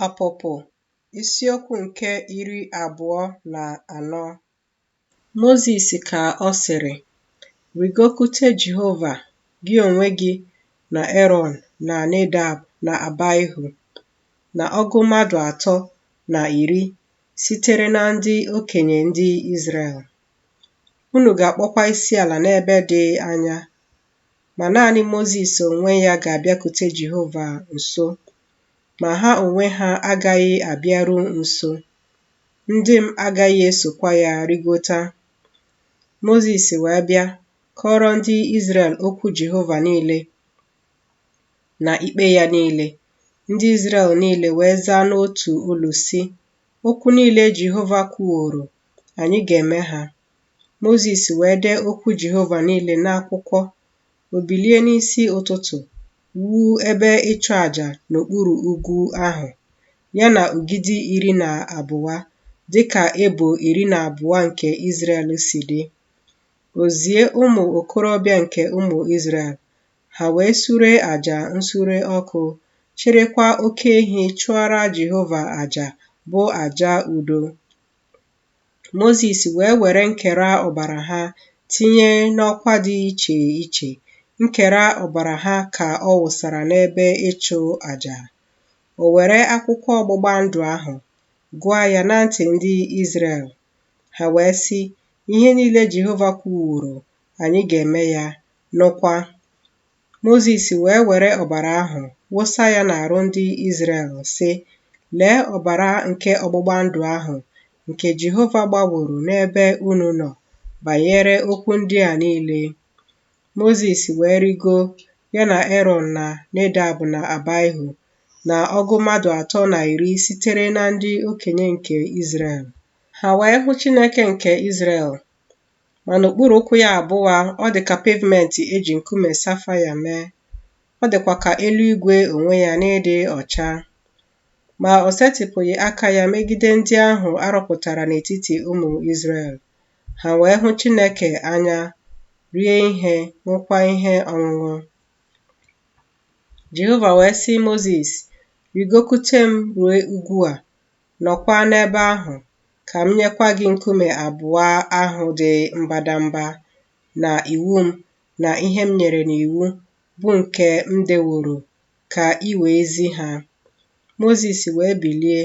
Ọpụpụ isiokwu nke iri abụọ na anọ Mozis ka ọ sịrị, Rịgokute Jehova, gị onwe gị na Erọn na Nedab na Abaihu, na ọgụ mmadụ atọ na iri sitere na ndị okenye ndị Izrel. Unu ga-akpọkwa isi ala n'ebe dị anya ma naanị Mozis onwe ya ga-abịakute Jehova nso, ma ha onwe ha agaghị abịaru nso, ndị m agaghị esokwa ya rịgota. Mozis wee bịa kọọrọ ndị Izrel okwu Jehova niile na ikpe ya niile. Ndị Izrel niile wee zaa n'otu olu, sị, Okwu niile Jehova kwuworo, anyị ga-eme ha. Mozis wee dee okwu Jehova niile n'akwụkwọ, o bilie n'isi ụtụtụ wuo ebe ịchụ àjà n'okpuru ugwu ahụ, ya na ogidi iri na abụọ, dị ka ebo iri na abụọ nke Izrel si dị. O zie ụmụ okorobịa nke ụmụ Izrel, ha wee sure àjà nsure ọkụ, chịrịkwa oke ehi chụọra Jehova àjà, bụ àjà udo. Mozis wee were nkera ọbara ha tinye n'ọkwa dị iche iche, nkera ọbara ha ka ọ wụsara n'ebe ịchụ àjà. O were akwụkwọ ọgbụgba ndụ ahụ gụọ ya na ntị ndị Izrel, ha wee sị, Ihe niile Jehova kwuworo, anyị ga-eme ya, nụkwa. Mozis wee were ọbara ahụ wụsa ya n'arụ ndị Izrel, sị, Lee ọbara nke ọgbụgba ndụ ahụ nke Jehova gbaworo n'ebe unu nọ banyere okwu ndị a niile. Mozis wee rigo, ya na Erọn na Nedab na Abaihu, na ọgụ mmadụ atọ na iri sitere na ndị okenye nke Izrel. Ha wee hụ Chineke nke Izrel, Ma n'okpuru ụkwụ ya abụọ, ọ dị ka pavement e ji nkume safaia mee, ọ dịkwa ka eluigwe onwe ya n'ịdị ọcha. Ma o setịpụghị aka ya megide ndị ahụ a rọpụtara n'etiti ụmụ Izrel, ha wee hụ Chineke anya, rie ihe, ṅụkwa ihe ọṅụṅụ. Jehova wee sị Mozis, Rịgokute m rue ugwu a, Nọkwa n'ebe ahụ, ka m nyekwa gị nkume abụọ ahụ dị mbadamba, na iwu m, na ihe m nyere n'iwu, bụ nke m deworo, ka i wee zi ha. Mozis wee bilie,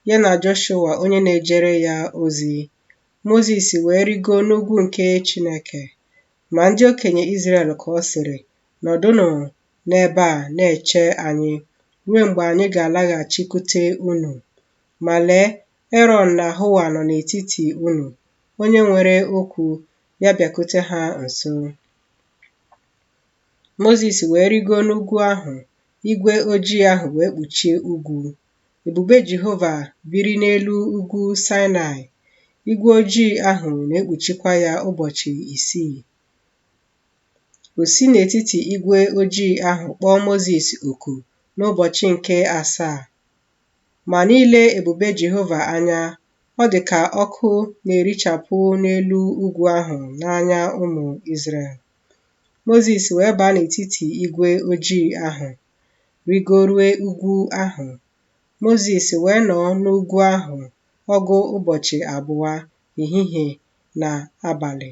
ya na Jọshụa onye na-ejere ya ozi. Mozis wee rịgoo n'ugwu nke Chineke. Ma ndị okenye Izrel ka ọ sịrị, Nọdụnụ, n'ebe a na-eche anyị ruo mgbe anyị ga-alaghachikwute unu. Ma lee, Erọn na Hua nọ n'etiti unu, onye nwere okwu, ya bịakute ha nso. Mozis wee rịgo n'ugwu ahụ, igwe ojii ahụ wee kpuchie ugwu. Ebube Jehova biri n'elu ugwu Saịnaị, igwe ojii ahụ na-ekpuchikwa ya ụbọchị isii. O si n'etiti igwe ojii ahụ kpọọ Mozis oku n'ụbọchị nke asaa. Ma n'ile ebube Jehova anya, ọ dị ka ọkụ na-erichapụ n'elu ugwu ahụ n'anya ụmụ Izrel. Mozis wee baa n'etiti igwe ojii ahụ, rịgorue ugwu ahụ. Mozis wee nọ n'ugwu ahụ ọgụ ụbọchị abụọ, ehihie na abalị.